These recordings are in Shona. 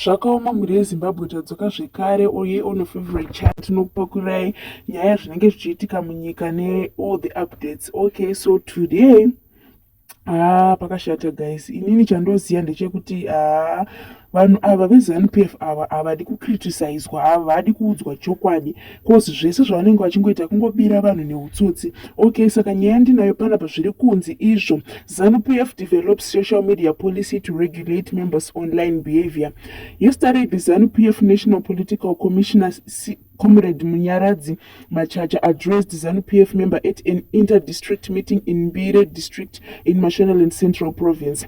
zvakaoma mhuri yezimbabwe tadzoka zvekare oye on favorite chat tinokupakurai nyaya zvinenge zvichiitika munyika neall the updates okay so today haa ah, pakashata guys inini chandoziva ndechekuti haa ah, vanhu ava vezanup f ava havadi kucriticizwa havadi kuudzwa chokwadi coz zvese zvavanenge vachingoita kungobira vanhu neutsotsi okay saka nyaya ndinayo pana pazviri kunzi izvo zanu pf develops social media policy to regulate members online behavior yesterday the zanu pf national political commissioner C comrade munyaradzi machacha addressed zanu pf member at an interdistrict meeting in mbire district in mashonaland central province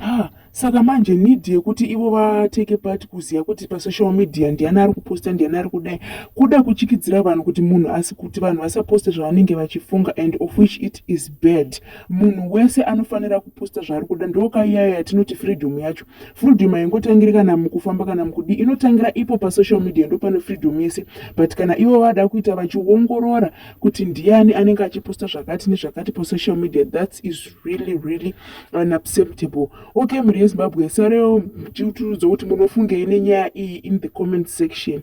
Ah, saka manje need yekuti ivo vateke part kuziva kuti pasocial media ndiani ari kuposta ndiani ari kudai kuda kuchikidzira vanhu kuti munhu asi kuti vanhu vasaposte zvavanenge vachifunga and of which it is bad munhu wese anofanira kuposta zvaari kuda ndokaiyayo yatinoti freedom yacho freedom haingotangira kana mukufamba kana mukudii inotangira ipo pasocial media ndopane freedom yese but kana ivo vada kuita vachiongorora kuti ndiani anenge achiposta zvakati nezvakati pasocial media thats is really really unacceptable okay mhuri yezimbabwe sare tiuturudzo kuti munofungei nenyaya iyi in the comment section